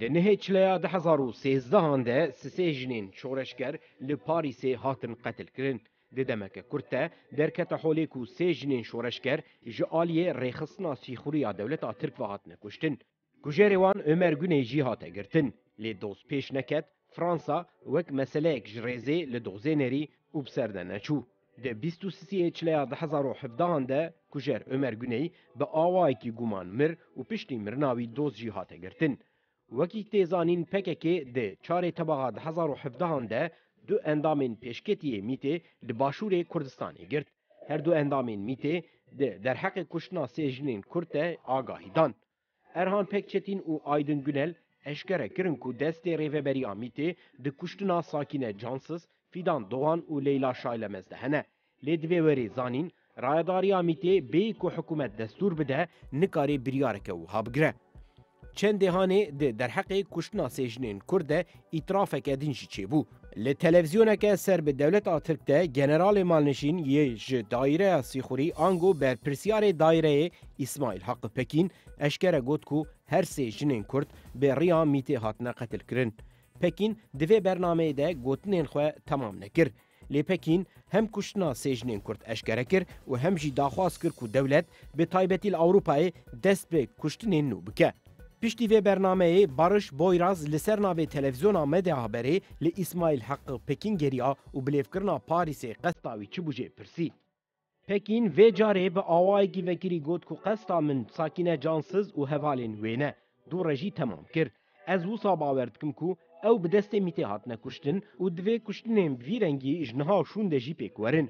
Di nihê çileya du hezar û sêzdehan de sisê jinên şoreşger li Parîsê hatin qetilkirin. Di demeke kurt de derkete holê ku sê jinên şoreşger ji aliyê rêxistina sîxurî ya dewleta Tirk ve hatine kuştin. Kujerê wan Ömer Guney jî hate girtin. Lê doz pêş neket, Fransa wek meseleyek ji rêzê li dozê nerî û bi ser de neçû. Di bîst û siyê çileya du hezar û hevdehan de kujer Omer Guney bi awayekî guman mir û piştî mirina wî doz jî hate girtin. Wekî tê zanîn pkk di çarê tebaxa du hezar û hevdehan de du endamên pêşketiyê mîtê li başûrê Kurdistanê girt. Her du endamên mîtê di derheqê kuştina sê jinên Kurd de agahî dan. Erhan Pekçetîn û Aydin Gunel eşkere kirin ku destê Rêveberiya MÎTê di kuştina Sakîne Cansiz, Fîdan Dogan û Leyla Şaylemez de hene. Lê divê werê zanîn, Rayedariya MÎTê bê ku hikûmet destûr bide, nikarê biryareke wiha bigire. Çendê hanê di derheqê kuştina sê jinên Kurd de Îtirafeke din jî çêbû. Li televîzyoneke ser bi dewleta Tirk de generalê malnişîn yê ji daîreya Sîxurî ango berpirsyarê daîreyê Îsmaîl Haqi Pekîn eşkere got ku her sê jinên Kurd bi riya mîtê hatine qetilkirin. Pekîn di vê bernameyê de gotinên xwe temam nekir. Lê Pekîn hem kuştina sê jinên Kurd eşkere kir û hem jî daxwaz kir ku dewlet bi taybetî li Ewropayê dest bi kuştinên nû bike. Piştî vê bernameyê Barış Boyraz li ser navê televîzyona Meda Haberê li Îsmaîl Heqi Pekîn geriya û bilêvkirina Parîsê qesta wî çi bû jê pirsî. Pekîn vê carê bi awayekî vekirî got ku qesta min Sakîne Cansiz û hevalên wê ne, du rejî temam kir. Ez wisa bawer dikim ku ew bi destê mîtê hatine kuştin û divê kuştinên bi vî rengî ji niha û şûnde jî pêk werin.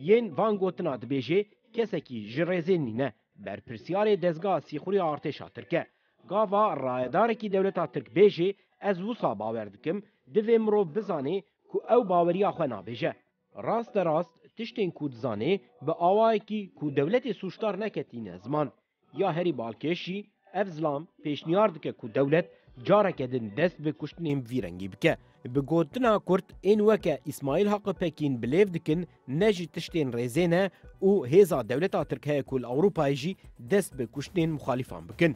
Yên van gotina dibêjê kesekî ji rêzê nîne, berpirsiyarê dezgeha sîxuriya artêşa tirk e. Gava rayedarekî dewleta tirk bêjê, ez wisa bawer dikim, divê mirov bizanê ku ew baweriya xwe nabêje. Rasterast tiştên ku dizanê bi awayekî ku dewletê sûcdar neketîne ziman. Ya herî balkêş jî ev zilam pêşniyar dike ku dewlet careke din dest bi kuştinên vî rengî bike. Bi gotina kurt ên weke Îsmaîl Haqi Pekîn bi lêv dikin ne ji tiştên rêzê ne û hêza dewleta Tirk heye ku li Ewropayê jî dest bi kuştinên muxalîfan bikin.